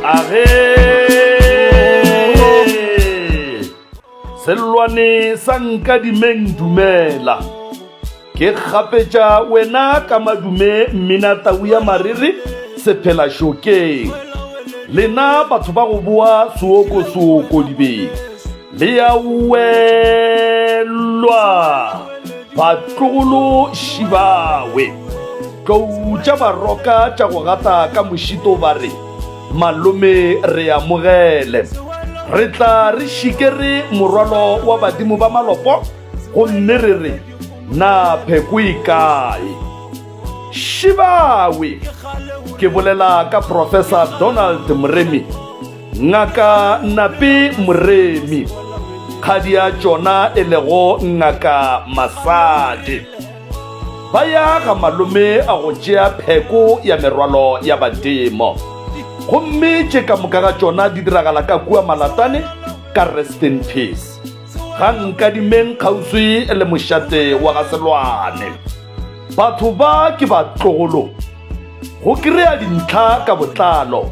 Age Selwane sa nka dimeng dumela Ke kgapetša wena ka madume mmina tau ya mariri sephela šokeng Lena batho ba go boa suoko suoko dibeng le ya welwa batlogolo šibawe tlou tša baroka tša go gata ka mošito ba re malome re amogele re tla re šikere morwalo wa badimo ba malopo gomme re re na pheko e kae šibawe ke bolela ka professor donald moremi Ngaka Napi Moremi, kgadi ya tšona e lego Ngaka Masadi, ba ya ga malome a go tšea pheko ya merwalo ya badimo. Gomme tše ka moka ga tšona di diragala ka kua Malatane ka Rest in Peace. Ga nkadimeng kgauswi le mošate wa ga Selwane. Batho ba ke batlogolo go kry-a dintlha ka botlalo.